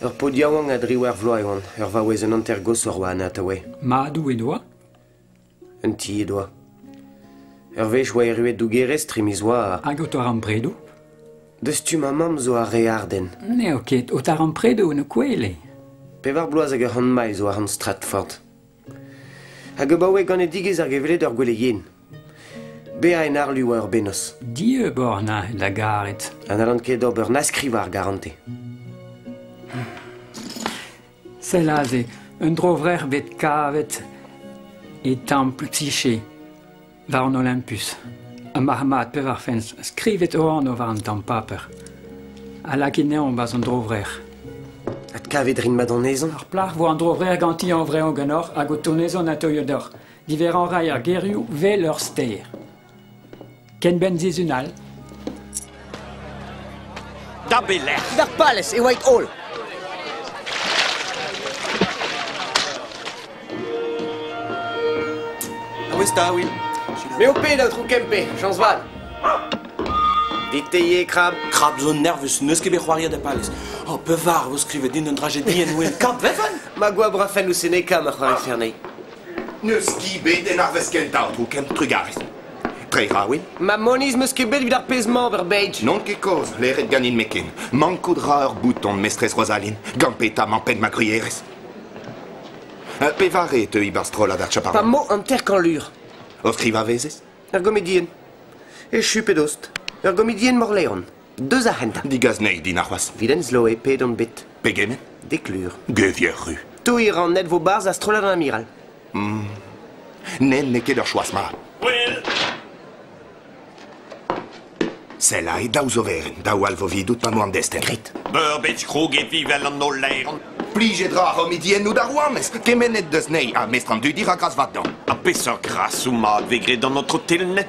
Ur paotr yaouank a driwec'h vloaz e oan, ur vaouez un hanter-goshoc'h oa an atav eo. Madoù en doa? Un ti he doa. Ur wech oa erruet dougerez tre miz oa... Hag o taran predoù? Deus tu ma mamm zo ar re ardenn. N'eo ket, o taran predoù en ho kwele. Pevar bloaz hag ur c'hant maiz zo àr an strat Ford. Hag abaoe ganedigezh ar gevred ur gwele yen. Bezañ en harlu oa ur bennozh. Dieub oc'h na da garet. Ha n'hallan ket ober na skrivañ ar garante. Sell aze, un dro-vrec'h bet kavet e templ Tichy. war an Olympus. Ha marc'h-mat pevar fent skrivet o anv war an tamm paper. A lak geneomp barzh an dro-vrec'h. Adkavit rin mat anezhañ. Ar plac'h vo an dro-vrec'h ganti hañv-dreñv ganeoc'h hag o tonezoñ ateuio deoc'h. Diverrañ a ray ar gerioù 'vel ur ster. Ken benn sizhun all. Da belec'h? D'ar palez e oait-holl. Gouesta, oui. Me ho ped, Aotrou Kempe, Jansval. Deteier krab, krab zo nervus, n'eus ket bet c'hoariet da palez. Oh, pevar vo skrivet din un drajedi en ouen kant vefen Ma goabr a fenn ouzh Seneca ma c'hoari fernei. N'eus ket bet en arvest kentañ, tro ken trugarez. Treiñ 'ra win? Ma moniz 'm eus ket bet evit ar pezh-mañ ober bed. N'on ket kozh leret ganin me ken. Mankout 'ra ur bouton, mestrez Rozaline, gant petamant pet ma grierez. Uh, pevare teuy 'barzh strollad ar chaparral? Pa mo hanter-kañlur. O skrivañ vezez? Ur gomedienn. Echu pe dost. Ur gomedienn Morleon. Deus ar c'hentañ. Digas anezhi din arc'hoazh. Vilen Sloe, pet on bet? Pegement? Dek lur. Gevier ru. Toiñ ran net vo barzh a strollad an amiral. Hmm. Nen n'eo ket ur choaz mat. Wel. Selai, daou zoverenn, daou alvovidout ma n'oan destenn. Grit. Beurbet krog evi vel an holl laeron. Plijet ra c'hommidiennoù d'ar rouanez, kemennet deus nei, ha mestr an dudi ra gras vat d'an. Ha peseurt grasoù mat vez graet d'an otro telnet?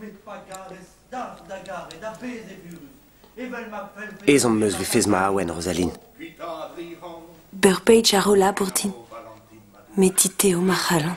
Met pa garez dalc'h da garet a-bezh evurus, evel ma fellfe... Ezhomm 'meus 'vefes maouenn, Rozaline. Ur page a ro labour din. Met dit eo ma c'halon.